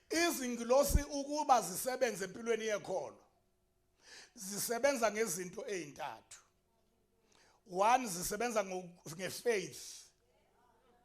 Izingilosi ukuba zisebenze empilweni yekholo zisebenza ngezinto ezintathu. One zisebenza ngefaith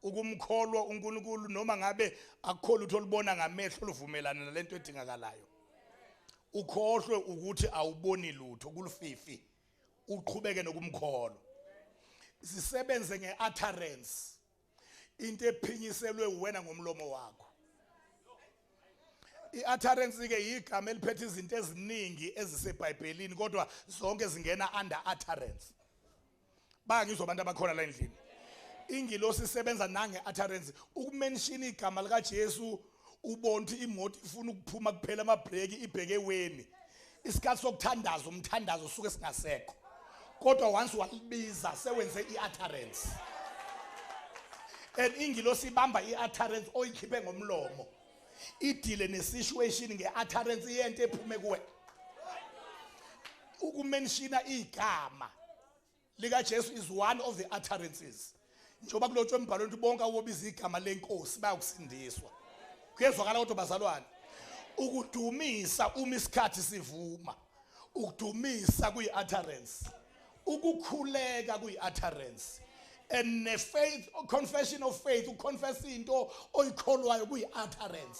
ukumkholwa uNkulunkulu noma ngabe akukholwa ukuthi olubona ngamehlo luvumelana nalento edingakalayo. Ukhohlwe ukuthi awuboni lutho kulufifi uqhubeke nokumkholwa. Zisebenze ngeutterance into ephinyiselwe uwena ngomlomo wakho i-utterance ke yigama eliphethe izinto eziningi ezisebhayibhelini kodwa zonke zingena under utterance bangizwa abantu abakhona la endlini ingilosi isebenza nange-utterance ukumenshina igama likajesu ubona ukuthi imoto ifuna ukuphuma kuphela amabhreki ibheke eweni isikhathi sokuthandaza umthandazo usuke singasekho kodwa once walibiza sewenze i-utterance and ingilosi ibamba i-utterance oyikhiphe ngomlomo idile ne-situation nge-utterance iyento ephume kuwe ukumenshina igama likaJesu is one of the utterances njengoba kulotshwe embhalweni ukuthi bonke awobiza igama lenkosi bayokusindiswa kuyezwakala kodwa bazalwane ukudumisa uma isikhathi sivuma ukudumisa kuyi-utterance ukukhuleka kuyi-utterance and ne-faith confession of faith ukuconfessa into oyikholwayo kuyi-utterance